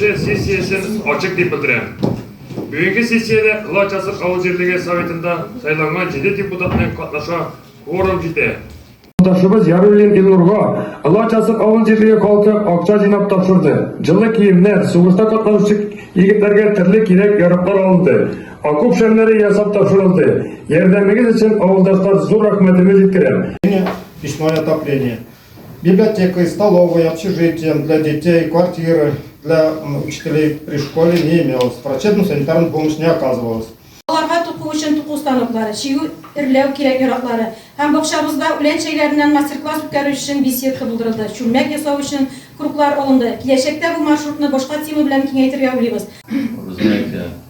Сессиясен ачык дип белдерәм. Бүгенге сессиядә Кылач Асыр авыл җирлеге советында сайланган җиде депутатның катнаша кворум җитә. Ташыбыз Яруллин Илнурга Кылач Асыр авыл җирлеге халкы акча җыйнап тапшырды. Җылы киемнәр, сугышта катнашучы егетләргә төрле кирәк-яраклар алынды. Окоп шәмнәре ясап тапшырылды. Ярдәмегез өчен авылдашлар зур рәхмәтемне җиткерәм. Печное отопление. Библиотека, столовая, общежитие для детей, квартиры для учителей при школе не имелось. Врачебную санитарную помощь не оказывалась. Аларга туку өчен туку станоклары, чигү эрләү кирәк яраклары һәм бакчабызда үлән чәйләреннән мастер-класс үткәрү өчен беседка булдырылды. Чүлмәк ясау өчен круглар алынды. Киләчәктә бу маршрутны башка тема белән киңәйтергә уйлыйбыз.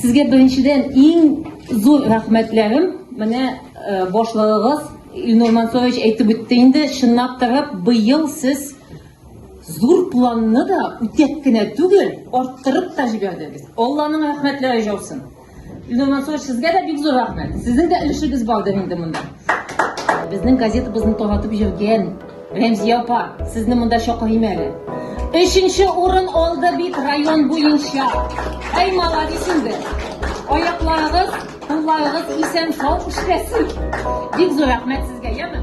Сезгә беренчедән иң зур рәхмәтләрем, менә башлыгыгыз Илнур Мансурович әйтеп үтте инде, чынлап та быел сез зур планны да үтәп кенә түгел, арттырып та җибәрдегез. Алланың рәхмәтләре җаусын. Ленар Анатольевич, сезгә дә бик зур рәхмәт. Сезнең дә өлешегез бардыр инде монда. Безнең газетабызны таратып йөргән Рәмзия апа, сезне монда чакырыйм әле. Өченче урын алды бит район буенча. Әй, молодец инде. Аякларыгыз, кулларыгыз исән, сау эшләсен. Бик зур рәхмәт сезгә, яме?